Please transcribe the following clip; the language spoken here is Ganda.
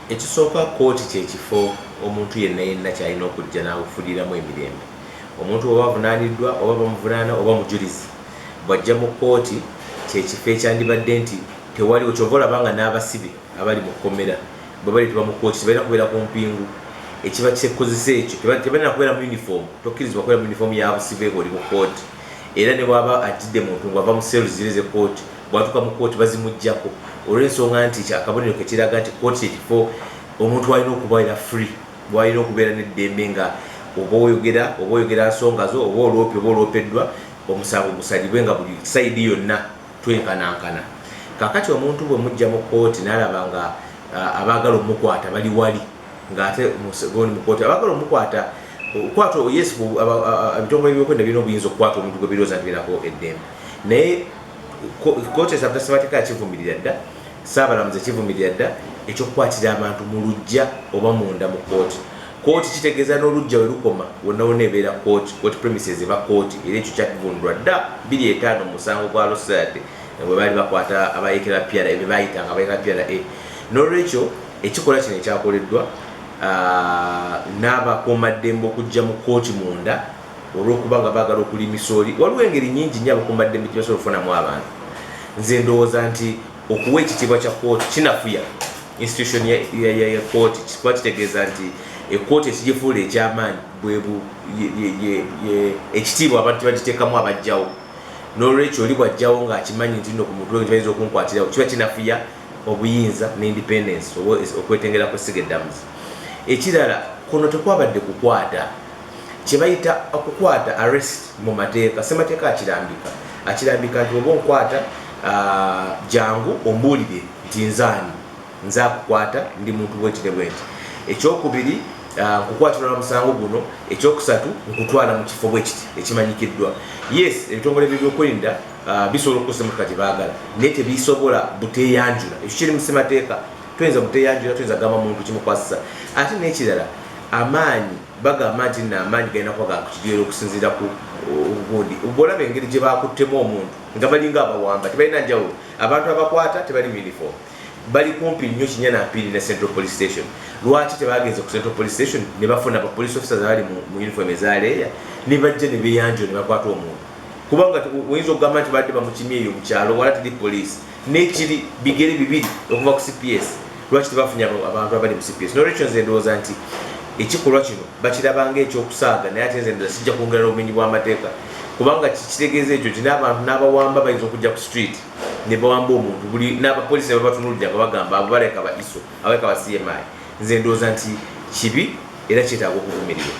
Ekisooka kkooti kye kifo omuntu yenna yenna ky'alina okujja n'awufuliramu emirembe. Omuntu oba avunaaniddwa oba bamuvunaana oba mujulizi bw'ajja mu kkooti kye kifo ekyandibadde nti tewaliwo ky'ova olaba nga n'abasibe abali mu kkomera bwe baleetebwa mu kkooti tebalina kubeera ku mpingu ekiba kyekozesa ekyo tebalina kubeera mu yunifoomu tokkirizibwa kubeera mu yunifoomu ya busibe ng'oli mu kkooti. Era ne bw'aba ajjidde muntu ng'ava mu cells ziri ez'e kkooti, bw'atuuka mu kkooti bazimuggyako olw'ensonga nti kya kabonero ke kiraga nti kkooti kye kifo omuntu w'alina okubeera free, w'alina okubeera n'eddembe nga oba oyogera oba oyogera nsonga zo, oba oloopye oba oloopeddwa, omusango gusalibwe nga buli sayidi yonna twenkanankana. Kaakati omuntu bwe muggya mu kkooti n'alaba nga abaagala omukwata bali wali, nga ate gondi mukooti abagala omukwata okukwata yes ebitongole byokwenda birina obuyinza okukwata omuntu gwe birooza nti birako eddembe naye kooti esabta ssemateka yakivumirira dda saabalamuzi ekivumirira dda ekyokukwatira abantu mu lujja oba munda mu kooti kooti kitegeeza n'olujja we lukoma wonna wonna ebeera kooti kooti premises eba kooti era ekyo kyakivundulwa dda biri etaano musango gwa losade bwe baali bakwata abayekera pyara ebyo bayitanga abayekera pyara a n'olwekyo Ekikolwa kino ekyakoleddwa n'abakuumaddembe okujja mu kkooti munda olw'okuba nga baagala okulya emisooli waliwo engeri nyingi nnyo abakuumaddembe gye basobola okufunamu abantu nze ndowooza nti okuwa ekitiibwa kya kkooti kinafuya institution ya kkooti kikuba kitegeeza nti ekkooti ekigifuula ekyamaanyi bwebu ekitiibwa abantu tebagiteekamu abajjawo n'olwekyo oli bwajjawo ng'akimanyi nti no ku mutwe nti bayinza okunkwatirawo kiba kinafuya obuyinza ne independence oba okwetengera kw'essiga eddamuzi. Ekirala, kuno tekwabadde kukwata, kye bayita okukwata, arrest, mu mateeka. Ssemateeka akirambika, akirambika nti bw'oba onkwata, jangu ombuulire nti nze ani, nze akukwata, ndi muntu bw'eti ne bw'eti. Ekyokubiri, nkukwatirwa na musango guno. Ekyokusatu, nkutwala mu kifo bwe kiti ekimanyikiddwa. Yes, ebitongole by'ebyokwerinda. bisobola okukozesa emotoka gyebagala naye tebisobola buteyanjula ekyo kiri musimateeka tuyinza buteyanjula tuyinza kugamba muntu kimukwasisa ate nekirala amaanyi bagamba nti no amaanyi galina kuba gakukigeera okusinziira ku gundi bwolaba engeri gye bakuttemu omuntu nga balinga abawamba tebalina njawulo abantu abakwata tebali uniform bali kumpi nnyo kinya nampiri ne central police station lwaki tebagenze ku central police station ne bafuna ba police officers abali mu uniform ezaleeya ne bajja ne beyanjula ne bakwata omuntu kubanga oyinza okugamba nti badde bamukimye eyo mukyalo wala tiri poliisi nekiri bigere bibiri okuva ku cps lwaki tebafunye abantu abali mu cps nolwekyo nze ndowooza nti ekikolwa kino bakirabanga ekyokusaaga naye ate nzendoza kijja kwongera n'obumenyi bw'amateeka kubanga kitegeeza ekyo nti n'abantu n'abawamba bayinza okujja ku street ne bawamba omuntu buli n'abapoliisi ne babatunulira nga bagamba abo baleka ba iso abaleka ba cmi nze ndowooza nti kibi era kyetaaga okuvumirirwa